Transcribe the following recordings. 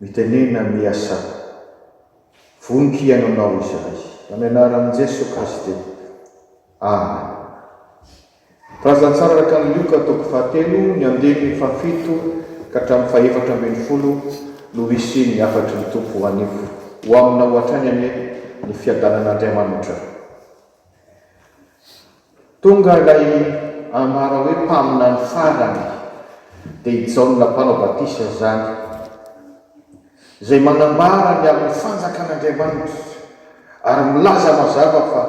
Mitenena miha sata. Voniko hihaino anao izahay. Amin'ny anaran'i Jeso Kristy. Amen. Razantsara Rakan'i Lioka toko fahatelo ny andininy fahafito ka hatramin'ny fahefatra ambin'ny folo no hisy ny hafatry ny Tompo ho anio. Ho aminao hatrany anie ny fiadanan'Andriamanitra. Tonga ilay ambara hoe mpaminany farany, dia i Jaona Mpanao Batisa izany, izay manambara ny amin'ny Fanjakan'Andriamanitra ary milaza mazava fa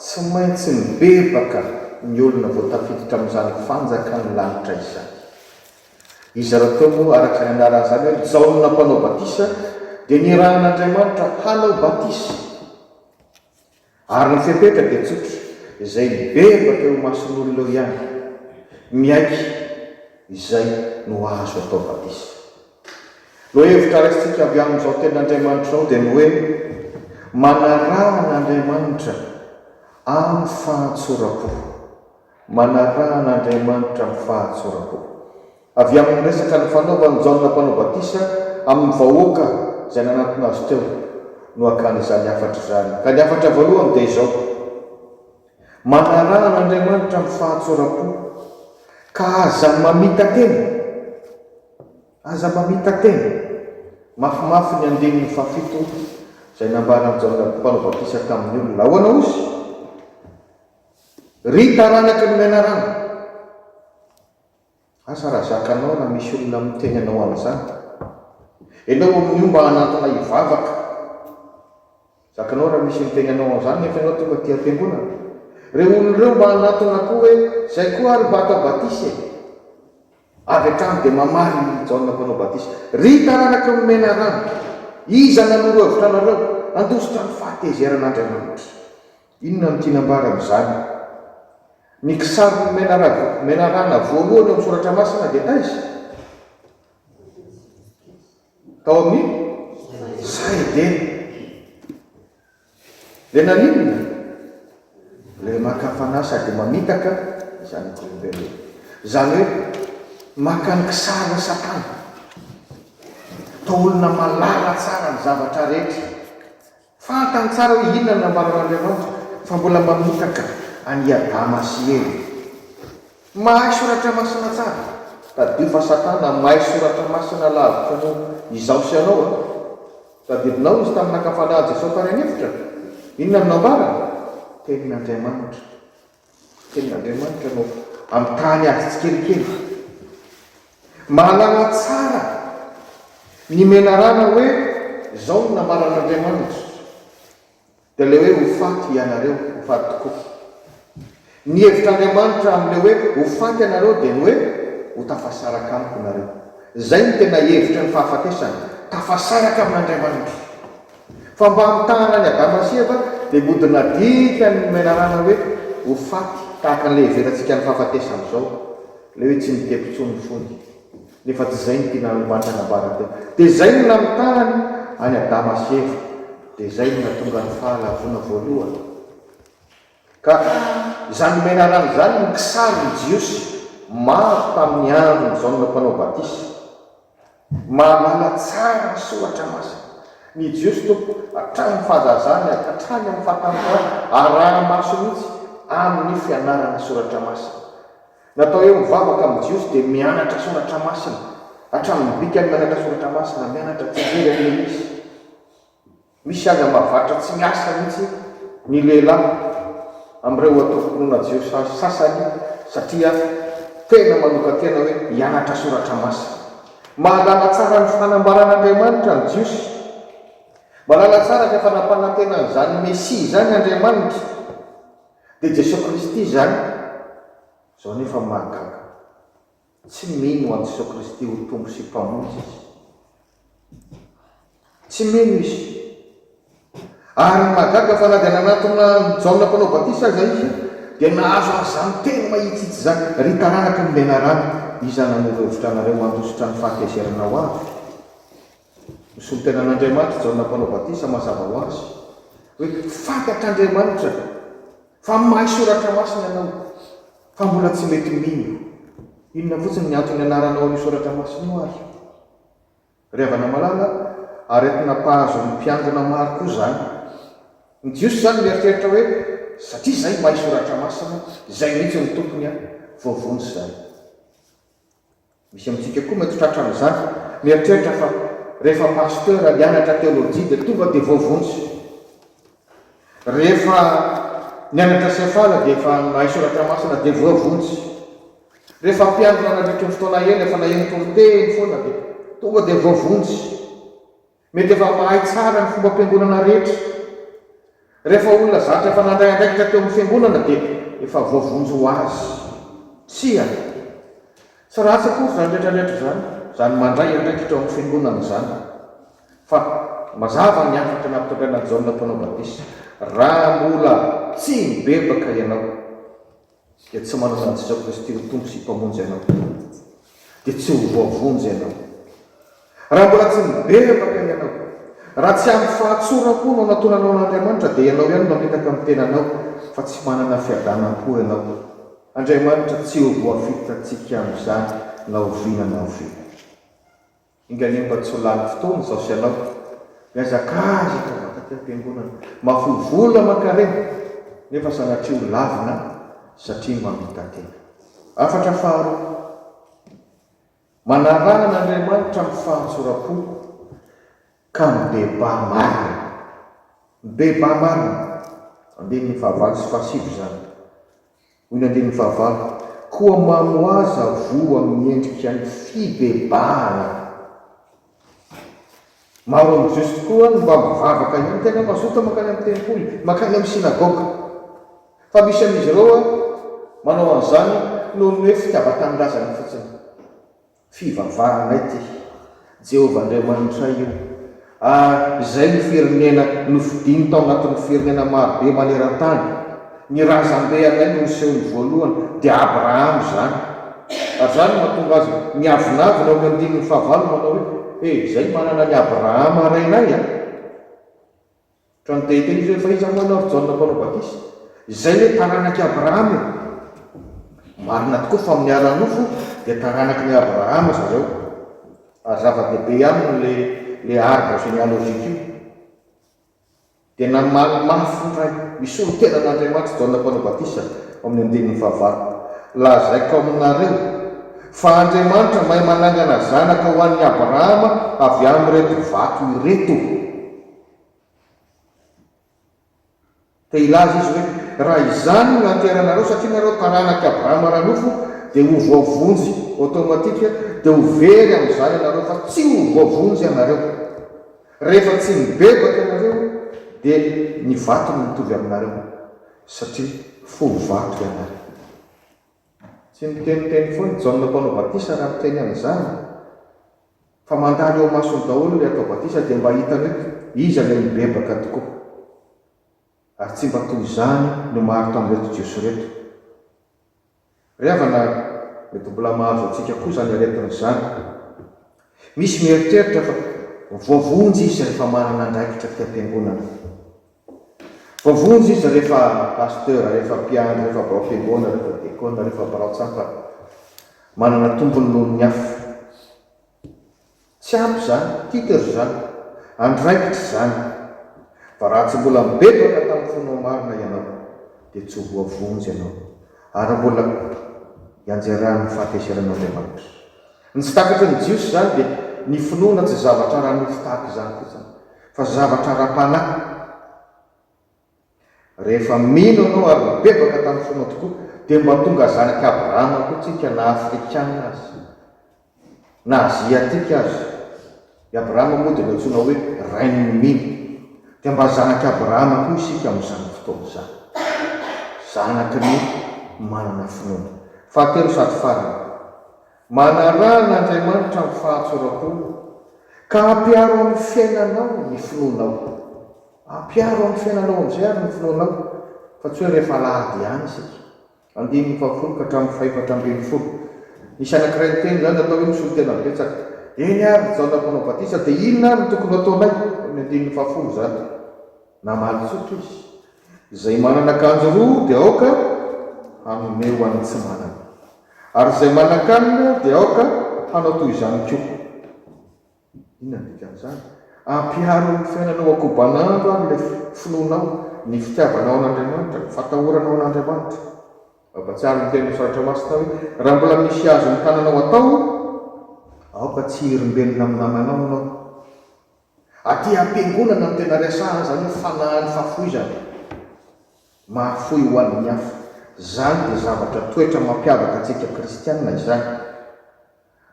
tsy maintsy mibebaka ny olona vao tafiditra amin'izany Fanjakan'ny lanitra izany. Izy rahateo moa, araka izay anaran'izany hoe Jaona Mpanao Batisa, dia nirahin'Andriamanitra hanao batisa. Ary ny fepetra dia tsotra, izay mibebaka eo imason'olona eo ihany, miaiky izay no azo atao batisa. No hevitra raisintsika avy amin'izao tenin'Andriamanitra izao dia ny hoe, manaraha an'Andriamanitra amin'ny fahatsoram-po. Manaraha an'Andriamanitra amin'ny fahatsoram-po. Avy amin'ny resaka nifanaovan'i Jaona Mpanao Batisa amin'ny vahoaka izay nanatona azy teo no akany izany hafatra izany. Ka ny hafatra voalohany dia izao, Manaraha an'Andriamanitra amin'ny fahatsoram-po. Ka aza mamita-tena. Aza mamita-tena. Mafimafy ny andininy fahafito izay nambaran'i Jaona Mpanao Batisa tamin'ny olona. Ahoana ozy? Ry taranaky ny menarana, asa raha zakanao na misy olona miteny anao an'izany, enao amin'io mba hanantona hivavaka, zakanao raha misy miteny anao an'izany nefa enao tonga aty am-piangonana, reo olona reo mba hanantona koa hoe zay koa ary mba atao batisa e! avy hatrany dia mamaly i Jaona mpanao batisa, ry taranaky ny menarana, iza nanoro hevitra anareo handositra ny fahatezeran'Andriamanitra? Inona no tiana ambara amin'izany? Ny kisarin'i Menaragwa, menarana, voalohany ao amin'ny Soratra Masina dia taiza? Tao amin'ny saha Edena. Dia naninona? Ilay maka fanahy sady mamitaka ny zanak'olombelona. Izany hoe maka ny kisarin'i Satana. Toa olona mahalala tsara ny zavatra rehetra. Fantany tsara hoe inona no nambaran'Andriamanitra fa mbola mamitaka an'i Adama sy Eva. Mahay soratra masina tsara. Tadidio fa Satana mahay soratra masina lavitra noho izaho sy ianao a! Tadidinao izy tamin'ny nakapalan'i Jesosy tany an'efitra? Inona no nambarany? Tenin'Andriamanitra. Tenin'Andriamanitra no ampitahany azy tsikelikely. Mahalala tsara ny menarana hoe izao no nambaran'Andriamanitra, dia ilay hoe ho faty ianareo, ho faty tokoa. Ny hevitr'Andriamanitra amin'ilay hoe ho faty ianareo dia ny hoe ho tafasaraka amiko nareo. Izay no tena hevitry ny fahafatesana, tafasaraka amin'Andriamanitra. Fa mba hamitahana an'i Adama sy Eva dia mody nadika ny menarana hoe ho faty tahaka an'ilay iheverantsika ny fahafatesana izao, ilay hoe tsy mitety intsony ny fony. Nefa tsy izay no tiana Andriamanitra hanambara teo. Dia izay no namitahany an'i Adama sy Eva. Dia izay no nahatonga ny Fahalavoana voalohany. Ka izany nomena rano izany no kisarin'ny Jiosy maro tamin'ny andron'i Jaona Mpanao Batisa. Mahalala tsara ny Soratra Masina ny Jiosy tompoko, hatramin'ny fahazazany ary hatrany amin'ny fahatanjahany, araha-maso mihitsy amin'ny fianarana Soratra Masina. Natao hoe mivavaka amin'ny Jiosy dia mianatra Soratra Masina, hatramin'ny bikany mianatra Soratra Masina, mianatra tsy hijery an'ilay izy. Misy aza mahavatra tsy miasa mihitsy ny lehilahy amin'ireo antokom-pinoana jiosy sasany satria tena manokan-tena hoe hianatra Soratra Masina. Mahalala tsara ny fanambaran'Andriamanitra ny Jiosy. Mahalala tsara fa efa nampanantena an'izany Mesia izany Andriamanitra, dia Jesoa Kristy izany. Izao anefa ny mahagaga. Tsy mino an'i Jesoa Kristy ho Tompo sy Mpamonjy izy. Tsy mino izy. Ary mahagaga fa na dia nanatona an'i Jaona Mpanao Batisa aza izy, dia nahazo an'izany teny mahitsitsy izany, Ry taranaky ny menarana, iza nanoro hevitra anareo handositra ny fahatezerana ho avy? Nisolo tena an'Andriamanitra i Jaona Mpanao Batisa mazava ho azy, hoe, Faty atr'Andriamanitra! Fa mahay soratra masina ianao fa mbola tsy mety mino. Inona fotsiny ny antony anaranao an'io soratra masina io ary? Ry havana malala, aretina mpahazo ny mpiangona maro koa izany. Ny jiosy izany mieritreritra hoe satria izahay mahay soratra masina, izay mihitsy no tompony an, voavonjy izany. Misy amintsika koa mety tratra amin'izany. Mieritreritra fa rehefa pasteur hianatra teolojia dia tonga dia voavonjy. Rehefa nianatra sefala dia efa mahay soratra masina dia voavonjy. Rehefa mpiandry nanadritry ny fotoana ela efa naheno toriteny foana dia tonga dia voavonjy. Mety efa mahay tsara ny fombam-piangonana rehetra. Rehefa olona zatra efa nandray andraikitra teo amin'ny fiangonana dia efa voavonjy ho azy. Tsia. Tsy ratsy akory izany rehetrarehetra izany, izany mandray andraikitra eo amin'ny fiangonana izany. Fa mazava ny hafatra nampitondraina an'i Jaona Mpanao Batisa, Raha mbola tsy nibebaka ianao. dia tsy manana an'i Jesoa Kristy ho Tompo sy Mpamonjy ianao, dia tsy ho voavonjy ianao. Raha mbola tsy miberavaka ianao, raha tsy ampy fahatsoram-po no anatonanao an'Andriamanitra, dia ianao ihany no mamitaka ny tenanao fa tsy manana fiadanam-po ianao. Andriamanitra tsy ho voafitrantsika amin'izany na oviana na oviana. Engalie mba tsy ho lany fotoana izao sy ianao. Mihazakazaka vata aty am-piangonana. Mahafoy vola aman-karena nefa sanatria ho lavina satria mamita-tena. Hafatra faharoa. Manaraha an'Andriamanitra amin'ny fahatsoram-po ka mibebaha marina. Mibebaha marina. Andininy fahavaly sy fahasivy izany. Hoy ny andinin'ny fahavalo, Koa mamoaza voa amin'ny endrika ny fibebahana. Maro amin'ny Jiosy tokoa no mba mivavaka ihany tena mazoto mankany amin'ny tempoly, mankany amin'ny synagoga. Fa misy amin'izy ireo manao an'izany noho ny hoe fitiavan-tanindrazana fotsiny. Fivavahanay ty. Jehovah Andriamanitray io. Ary izay no firenena nofidiny tao anatin'ny firenena maro be maneran-tany. Ny razambe anay no nosehony voalohany, dia Abrahama izany. Ary izany no mahatonga azy miavonavona eo amin'ny andininy fahavalo manao hoe, He, izay manana an'i Abrahama rainay a! Ka ny dahiny teny ivelany fa iza moa ianao ry Jaona mpanao batisa? Izay hoe taranak'i Abrahama e! Marina tokoa fa amin'ny ara-nofo dia taranakin'i Abrahama zareo, ary zava-dehibe aminy le le arbre généalogique io. Dia namaly mafy ny Ray misolo tena an'Andriamanitra Jaona mpanao batisa ao amin'ny andininy fahavalo, Lazaiko aminareo fa Andriamanitra mahay manangana zanaka ho an'i Abrahama avy amin'ireto vato ireto. Dia hilaza izy hoe, Raha izany no nateranareo, satria nareo taranak'i Abrahama ara-nofo, dia ho voavonjy automatique, dia ho very amin'izany ianareo, fa tsy ho voavonjy ianareo. Rehefa tsy nibebaka ianareo, dia ny vato no mitovy aminareo, satria fo vato ianareo. Tsy miteniteny foana i Jaona mpanao batisa raha miteny an'izany fa mandalo eo masony daholo ilay atao batisa dia mba hitany hoe iza ilay mibebaka tokoa. Ary tsy mba toy izany no maro tamin'ireto Jiosy ireto. Ry havana, mety mbola mahazo antsika koa izany aretina izany. Misy mieritreritra fa voavonjy izy rehefa manana andraikitra fiam-piangonana. Voavonjy izy rehefa pasteur, rehefa mpiandry, rehefa birao fiangoana, rehefa dekona, rehefa birao tsapa. Manana tombony noho ny hafa. Tsy ampy izany, titres izany, andraikitra izany. Fa raha tsy mbola mibebaka tamin'ny fonao marina ianao, dia tsy ho voavonjy ianao, ary mbola hianjeran'ny fahatezeran'Andriamanitra. Ny tsy takatry ny Jiosy izany dia ny finoana tsy zavatra ara-nofo tahaka izany fotsiny, fa zavatra ara-panahy. Rehefa mino ianao ary nibebaka tamin'ny fonao tokoa, dia mba tonga zanak'i Abrahama koa isika na Afrikana aza, na Aziatika aza. I Abrahama moa dia nantsoina hoe rain'ny mino. Dia mba zanak'i Abrahama koa isika amin'izany fotoana izany. Zanaky ny manana finoana. Fahatelo sady farany. Manaraha an'Andriamanitra amin'ny fahatsoram-po, ka ampiaro amin'ny fiainanao ny finoanao. Ampiaro amin'ny fiainanao amin'izay àry ny finoanao, fa tsy hoe rehefa alahady ihany isika. Andininy fahafolo ka hatramin'ny fahefatra ambin'ny folo. Nisy anankiray niteny izany, natao hoe misolo tena betsaka. Eny àry, i Jaona Mpanao Batisa, dia inona àry no tokony ho ataonay? Eo amin'ny andininy fahafolo izany. Namaly tsotra izy, Izay manana akanjo roa dia aoka hanome ho an'ny tsy manana, ary izay manan-kanina dia aoka hanao toy izany koa. Inona no dikan'izany? Ampiharo amin'ny fiainanao ankobanandro ary ilay finoanao, ny fitiavanao an'Andriamanitra, ny fatahoranao an'Andriamanitra. Mampahatsiahy ny tenin'ny Soratra Masina hoe, Raha mbola misy azon'ny tananao atao, aoka tsy hirimbenina amin'ny namanao ianao. Aty am-piangonana no tena resahan zany hoe fanahin'ny fahafoizana, mahafoy ho an'ny hafa. Zany dia zavatra toetra mampiavaka antsika kristiana izany.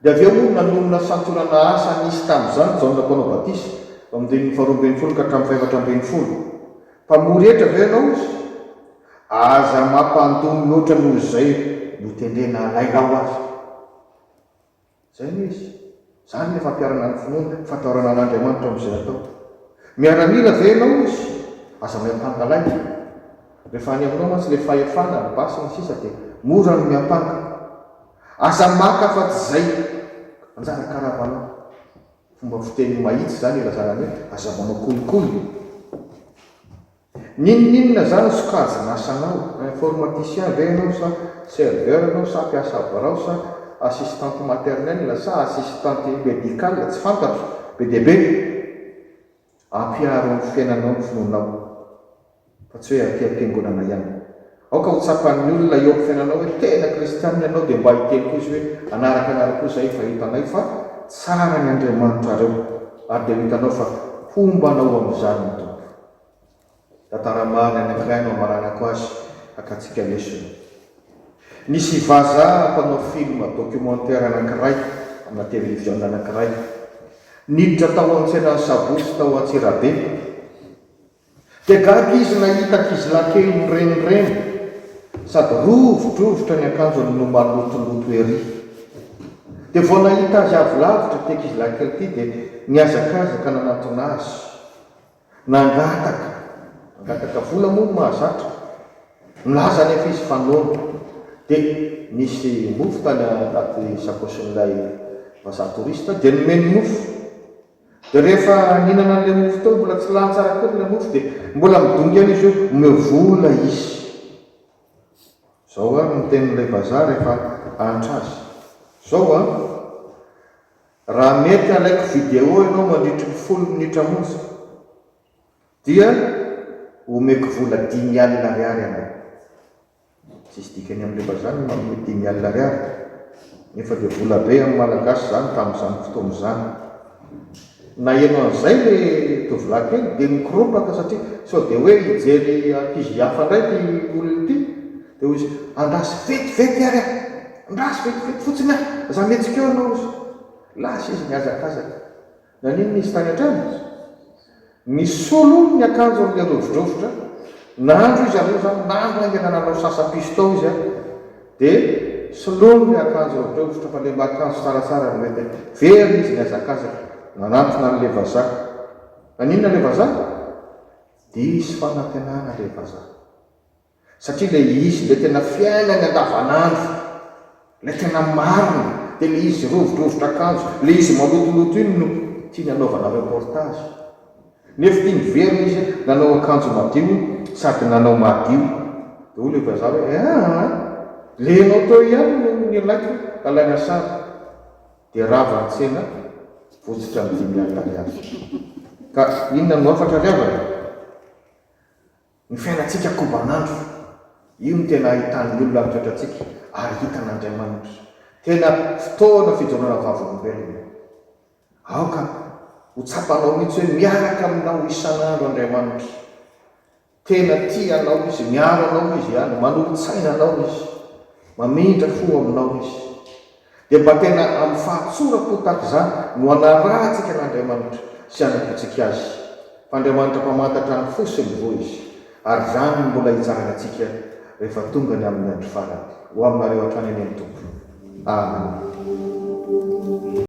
Dia avy eo moa no nanonona santionana asa nisy tamin'izany Jaona mpanao batisa, eo amin'ny andininy faharoa ambin'ny folo ka hatramin'ny fahefatra ambin'ny folo. Mpamory hetra ve ianao izy? Aza mampandoa mihoatra noho izay notendrena alainao aza. Izay no izy. Izany ilay fampiharana ny finoana, fandraorana an'Andriamanitra amin'izay atao. Miaramila ve ianao izy? Aza miampanga lainga. Rehefa any aminao mantsy ilay fahefana, ny basy sy ny sisa dia mora ny miampanga. Aza maka afa-tsy izay anjara karavanao. Fomba fiteny mahitsy izany ilazana ny hoe aza manao kolikoly. N'inon'inona izany sokajin'asanao, informaticien ve ianao sa serveur ianao sa mpiasa birao sa assistante maternelle sa assistante médicale tsy fantatro, be dia be ampiharo amin'ny fiainanao ny finoanao fa tsy hoe aty am-piangonana ihany. Aoka ho tsapan'ny olona eo amin'ny fiainanao hoe tena kristianina ianao dia mba hiteny koa izy hoe hanaraka anareo koa izahay fa hitanay fa tsara ny Andriamanitrareo ary dia ho hitanao fa homba anao amin'izany ny Tompo. Tantara marina anankiray no amaranako azy, hakantsika lesona. Nisy vazaha mpanao film documentaire anankiray amina televiziona anankiray, niditra tao an-tsenan'ny Sabotsy tao Antsirabe, dia gaga izy nahita ankizilahy kely mirenireny sady rovidrovitra ny akanjony no malotoloto ery. Dia vao nahita azy avy lavitra ity ankizilahy kely ity dia nihazakazaka nanantona azy. Nangataka, nangataka vola moa ny mahazatra, nilaza anefa izy fa noana. Dia nisy mofo tany anaty sakaosin'ilay vazaha touriste dia nomeny mofo. Dia rehefa nihinana an'ilay mofo teo, mbola tsy lany tsara akory ilay mofo dia mbola midongy ihany izy hoe omeo vola izy. Izao ary ny tenin'ilay vazaha rehefa ahantra azy. Izao an! Raha mety alaiko vidéo ianao mandritry ny folo minitra monja dia omeko vola dimy alina ariary ianao. Tsisy dikany amin'ny rehefa izany ny manome dimy alina ariary nefa dia vola be amin'ny malagasy izany tamin'izany fotoana izany. Naheno an'izay le tovolahy kely dia nikoropaka satria sao dia hoe hijery ankizy hafa indray ity olona ity dia hoy izy andraso vetivety ary a! Ndraso vetevety fotsiny aho, za mihetsika eo anao osa. Lasa izy nihazakazaka. Naninona izy tany an-trano? Nisolo hono ny akanjony le rovidrovitra, nandro izy aloha zany, nandro haingana nanao sasa-piso tao izy an! de soloiny le akanjo rovidrovitra fa le mba akanjo tsaratsara no entiny. Very izy nihazakazaka, nanantona anle vazaha. Naninona le vazaha? Diso fanantenana le vazaha. Satria ilay izy, ilay tena fiainany andavanandro, ilay tena marina, dia ilay izy rovidrovitra akanjo, ilay izy malotoloto iny no tiany hanaovana reportage. Nefo tia niverina izy nanao akanjo madio sady nanao madio. Dia hoy ilay vazaha hoe, eh an! Ilay ianao teo ihany no nilaiko alaina sary. Dia rava an-tsena votsotra ny dimy alina ariary. Ka inona no hafatra ry havana? Ny fiainantsika kobanandro, io no tena ahitan'ny olona ny toetrantsika ary hitan'Andriamanitra. Tena fotoana fijoroana vavolombelona. Aoka ho tsapanao mihitsy hoe miaraka aminao isan'andro Andriamanitra. Tena tia anao Izy, miaro anao Izy ihany, manolo-tsaina anao Izy, mamindra fo aminao Izy. Dia mba tena amin'ny fahatsorako tahaka izany no hanarahantsika an'Andriamanitra sy hanampintsika Azy, fa Andriamanitra mpamantatra ny fo sy ny voa Izy, ary izany no mbola hitsarany antsika rehefa tonga ny amin'ny andro farany. Ho aminareo hatrany anie ny Tompo. Amena.